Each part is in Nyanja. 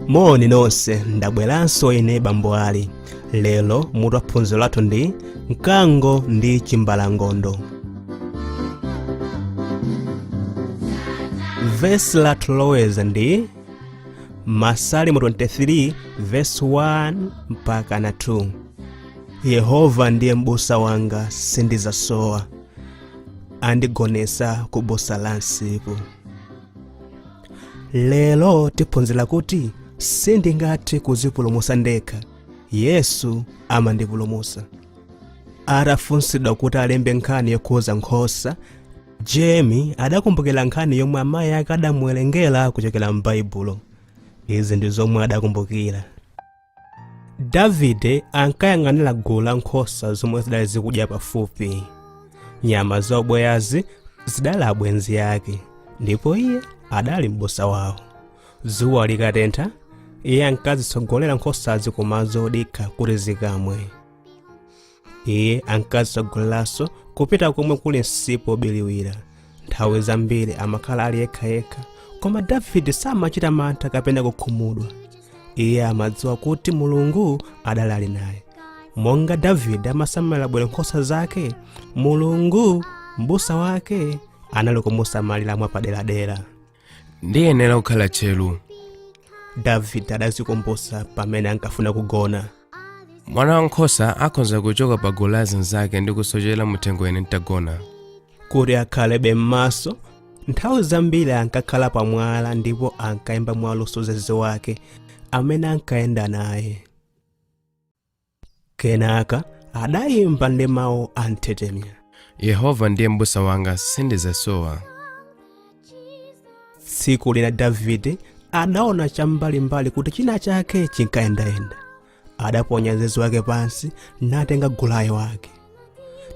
moni nonse ndabweranso ine bambo ali lero mutu wa phunziro lathu ndi mkango ndi chimbalangondo vesi lathu loloweza ndi masalimo 23 vesi 1 mpaka na 2 yehova ndiye m'busa wanga sindizasowa andigonesa ku busa la msipu lero tiphunzira kuti sindingathe kuzipulumusa ndekha yesu amandipulumusa atafunsidwa kuti alembe nkhani yokhuza nkhosa jemi adakumbukira nkhani yomwe amayi ake adamuwerengera kuchokera m'baibulo izi ndi zomwe adakumbukira davide ankayang'anira gulu la nkhosa zomwe zidali zikudya pafupi nyama za ubweyazi zidali abwenzi ake ndipo iye adali m'busa wawo dzuwa likatentha iye ankazitsogolera nkhosazi kumadzi odikha kuti zikamwe iye ankazitsogoleraso kupita komwe kuli msipu obiliwira nthawi zambiri amakhala ali yekhayekha koma davide samachita mantha kapena kukhumudwa iye amadziwa kuti mulungu adali ali naye monga davide amasamalira bwino nkhosa zake mulungu m'busa wake anali kumusamalira mwapaderadera ndiyenera kukhala tcheru davide adazikumbusa pamene ankafuna kugona mwana wankhosa akhoza kuchoka pa gulu la zinzake ndi kusochera muthengo ine ntagona kuti akhalebe m'maso nthawi zambiri ankakhala pamwala ndipo ankayimba mwaluso zeze wake amene ankayenda naye kenaka adayimba ndi mawu anthetemya yehova ndiye m'busa wanga sindizasowa tsiku lina davide adaona cham'mbalimbali kuti china chake chinkayendayenda adaponya zeze wake pansi natenga gulayo wake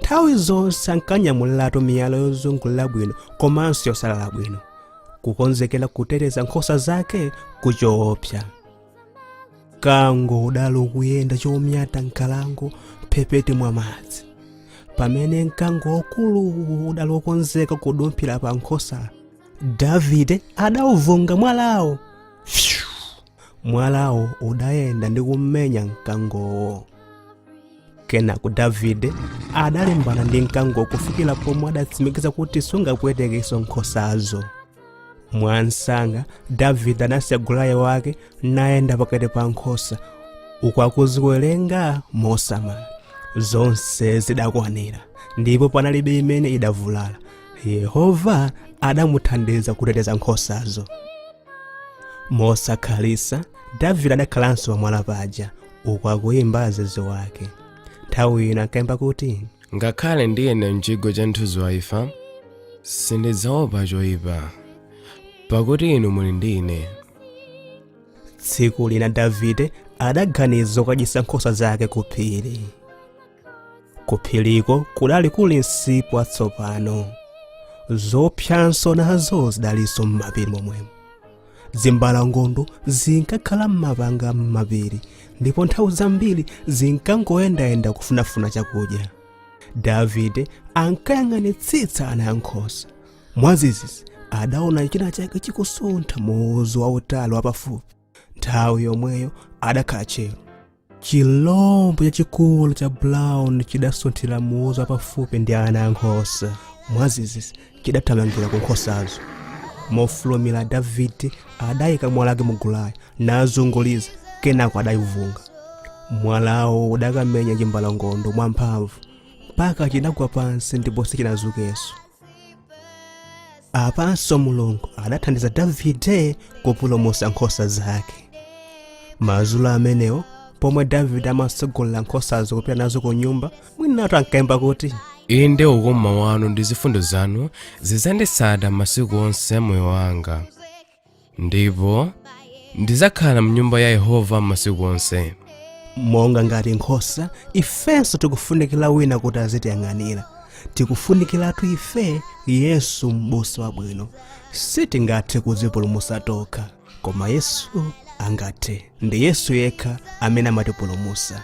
nthawi zonse ankanyamuliratu miyala yozungulira bwino komanso yosalala bwino kukonzekera kuteteza nkhosa zake ku choopsa mkango udali ukuyenda chomyata m'nkhalango mphepete mwa madzi pamene mkango waukulu udali wokonzeka kudumphira pa nkhosa davide adauvunga mwalawo Phew! mwalawo udayenda ndi kummenya mkangowo kenako davide adalimbana ndi mkango kufikira pomwe adatsimikiza kuti sungapwetekenso nkhosazo mwamsanga davide adasiya gulaye wake nayenda pakati pa nkhosa uku akuziwerenga mosamala zonse zidakwanira ndipo panalibe imene idavulala yehova adamuthandiza kuteteza nkhosazo mosakhalitsa davide adakhalanso pamwala paja uku akuyimba zeze wake nthawi ina ankayimba kuti Ngakhale ndiyenda m'chigwa cha mthunzi wa imfa, sindidzaopa choyipa, pakuti inu muli ndi ine. tsiku lina davide adaganiza kukadyetsa nkhosa zake ku phiri ku phiriko kudali kuli msipu watsopano zoopsanso nazo zidalinso m'mapiri momwemo zimbalangondo zinkakhala m'mapanga m'mapiri ndipo nthawi zambiri zinkangoyendayenda kufunafuna chakudya davide ankayang'anitsitsa ana ankhosa mwadzidzidzi adaona china chake chikusuntha mu udzu wautali wapafupi nthawi yomweyo adakhala tcheru chilombo chachikulu cha brown chidasunthira mu udzu wapafupi ndi ana ankhosa mwadzidzidzi chidathamangira ku nkhosazo mofulumira davide adayika mwala wake mugulaye nazunguliza kenako adayivunga mwalawo udakamenya chimbalangondo mwamphamvu mpaka chinagwa pansi ndipo sichinazukenso apanso mulungu adathandiza davide kupulumutsa nkhosa zake madzulo amenewo pomwe davide amatsogolera nkhosazo kupita nazo ku nyumba mwinatu ankayimba kuti inde ukoma wanu ndi zifundo zanu zidzanditsata masiku onse a moyo wanga ndipo ndidzakhala mnyumba ya yehova masiku onse monga ngati nkhosa ifenso tikufunikira wina kuti azitiyang'anira tikufunikiratu ife yesu m'busa wabwino sitingathe kudzipulumutsa tokha koma yesu angathe ndi yesu yekha amene amatipulumutsa